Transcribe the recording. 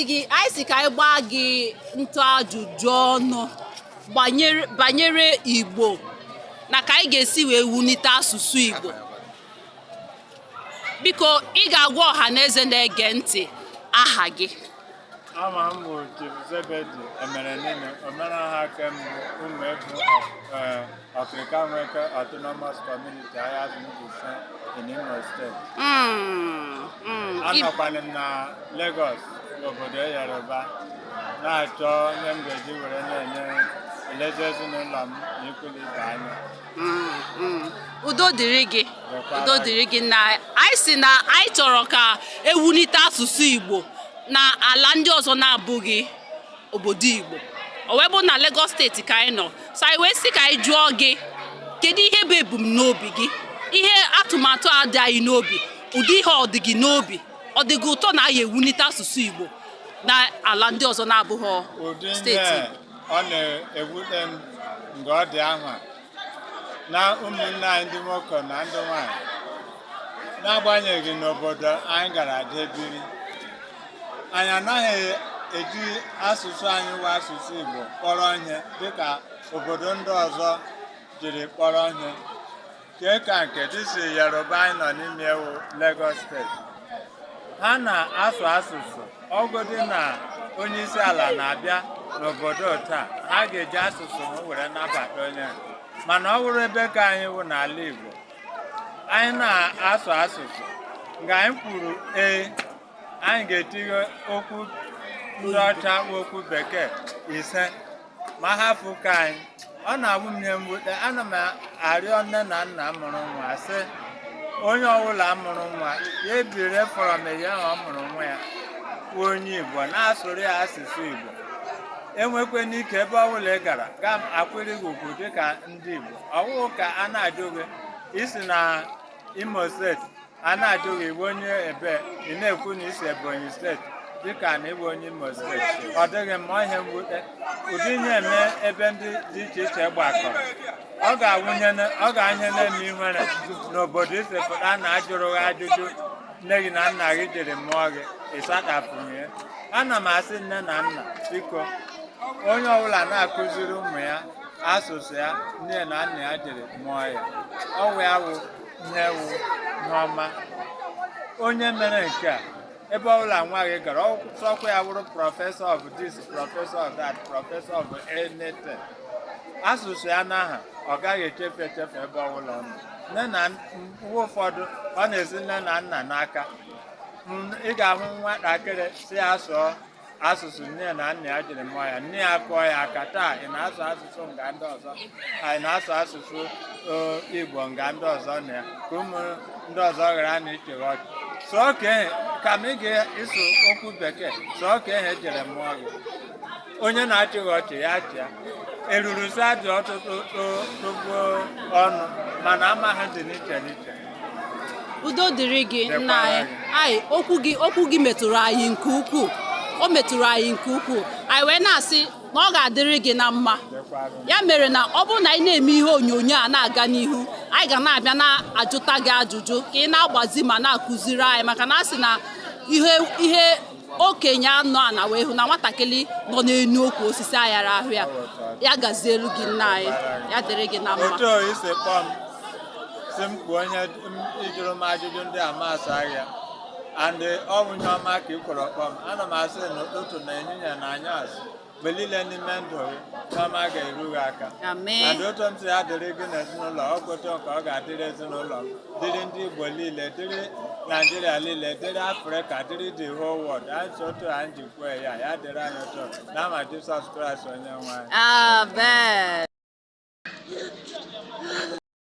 gị anyị sị ka anyị gbaa gị ntụ ajụjụ ọnụ banyere Igbo na ka anyị ga-esi wee wulite asụsụ Igbo biko ị ga-agwa ọha na eze na-ege ntị aha gị aha m bụ Chief Zebedi Emerenini omenala nke mbụ Ụmụevu Okirika Nweke Autonomous Community Ahiazu Mbaise in Imo steeti. Mm, mm. I- Anọkwana m na Lagos obodo Yoruba na-achọ ihe m ga-eji were na-enye elezi ezinụlọ m na ikwu na ibe anya. Mm, mm. udo dịrị gị Dịkwara gị. udo dịrị gị na anyị sị na anyị chọrọ ka e wulite asụsụ igbo na ala ndị ọzọ na-abụghị obodo Igbo o wee bụrụ na Lagos steeti ka anyị nọ so anyị wee sị ka anyị jụọ gị kedu ihe bụ ebumnobi gị ihe atụmatụ a dị anyị n'obi ụdị ihe ọ dị gị n'obi ọ dị gị ụtọ na anyị ewulite asụsụ Igbo na ala ndị ọzọ na-abụghị steeti ọ na-ewute m mgbe ọ dị ahụ na ụmụnne anyị ndị nwoke na ndị nwanyị n'agbanyeghị n'obodo anyị gara jee biri anyị anaghị eji asụsụ anyị bụ asụsụ Igbo kpọrọ ihe dịka obodo ndị ọzọ jiri kpọrọ ihe nke ka nke this Yoruba anyị nọ n'ime ya wụ Lagos steeti ha na-asụ asụsụ ọ wụdị na onye isi ala na-abịa n'obodo taa ha ga-eji asụsụ ha were nabata onye mana ọ bụrụ ebe nke anyị wụ n'ala Igbo anyị na-asụ asụsụ nga anyị kwuru ee anyị ga-etinye okwu ndị ọcha okwu bekee ise ma hafụ nke anyị ọ na-awụ m ihe mwute ana m arịọ nne na nna mụrụ nwa sị onye ọbụla mụrụ nwa ya ebido from mgbe ahụ ọ mụrụ nwa ya wụ onye igbo na-asụrụ ya asụsụ igbo enwekwe n'ike ebe ọbụla ị gara ga m akwụrụ gị ugwu dịka ndị igbo ọ wụghị ka a na-ajụ gị i si na imo steeti a na-ajụ gị ị wụ onye ebee ị na-ekwu na i si ebonyi steeti dịka na ị bụ onye imo steeti ọ dịghị mma ihe mwute ụdị ihe eme ebe ndị dị iche iche gbakọrọ ọ ga-awụ ihe na- ọ ga-awụ ihe na-eme ihere n'obodo isepụta na a jụrụ gị ajụjụ nne gị na nna gị jiri mụọ gị ị sachapụghị ya ana m asị nne na nna biko onye ọbụla na-akụziri ụmụ ya asụsụ ya nne na nna ya jiri mụọ ya ọ wụ ya wụ ihe wụ ihe ọma onye mere nke a ebe ọbụla nwa gị gara ọkwa ya bụrụ professor of this professor of that professor of anything asụsụ ya n'aha ọ gaghị echefu echefu ebe ọbụla ọ nọ mana mgbe ụfọdụ ọ na-esi nne na nna n'aka ị ga-ahụ nwatakịrị si ya sụọ asụsụ nne na nna ya jiri mụọ ya nne ya kụọ ya aka taa ị na-asụ asụsụ nga ndị ọzọ anyị na-asụ asụsụ igbo nga ndị ọzọ nọ ya ka ụmụ ndị ọzọ ghara na ịchị gị ọchị sụọkwa ehe kama ị ga-asụ okwu bekee sụọkwa ehe e jiri mụọ gị onye na-achị gị ọchị ya chịa eruru sị ha dị ọtụtụ tụgbuo ọnụ mana ama ha dị n'iche n'iche udo dịrị gị nna anyị anyị okwu gị okwu gị metụrụ anyị nke ukwuu o metụrụ anyị nke ukwuu anyị wee na-asị na ọ ga-adịrị gị na mma ya mere na ọ bụrụ na anyị na-eme ihe onyonyo a na-aga n'ihu anyị ga na-abịa na-ajụta gị ajụjụ ka ị na-agbazi ma na-akụziri anyị maka na a sị na ihe ihe okenye nọ ana wee hụ na nwatakịrị nọ n'enu ukwu osisi ayara ahụ ya ya gazielu gị nna anyị ya dịrị gị na mma otu i si kpọọ m sị m kpuo onye m- ị jụrụ m ajụjụ ndị a m asaa gị ya and ọ bụ ihe ọma ka i kworo kpọọ m ana m asị n'ụtụtụ n'ehihie n'anyasị mgbe niile n'ime ndụ gị ihe ọma ga-eru gị aka Amen. and otu m sị ya dịrị gị n'ezinụlọ ọ bụ otu ka ọ ga-adịrị ezinụlọ m, dịrị ndị Igbo niile dịrị Naijiria niile dịrị Afrịka dịrị the whole world anyị si otu anyị ji kwue ya ya dịrị anyị otu a n'aha Jisọs Kraịst onye nwe anyị Amen.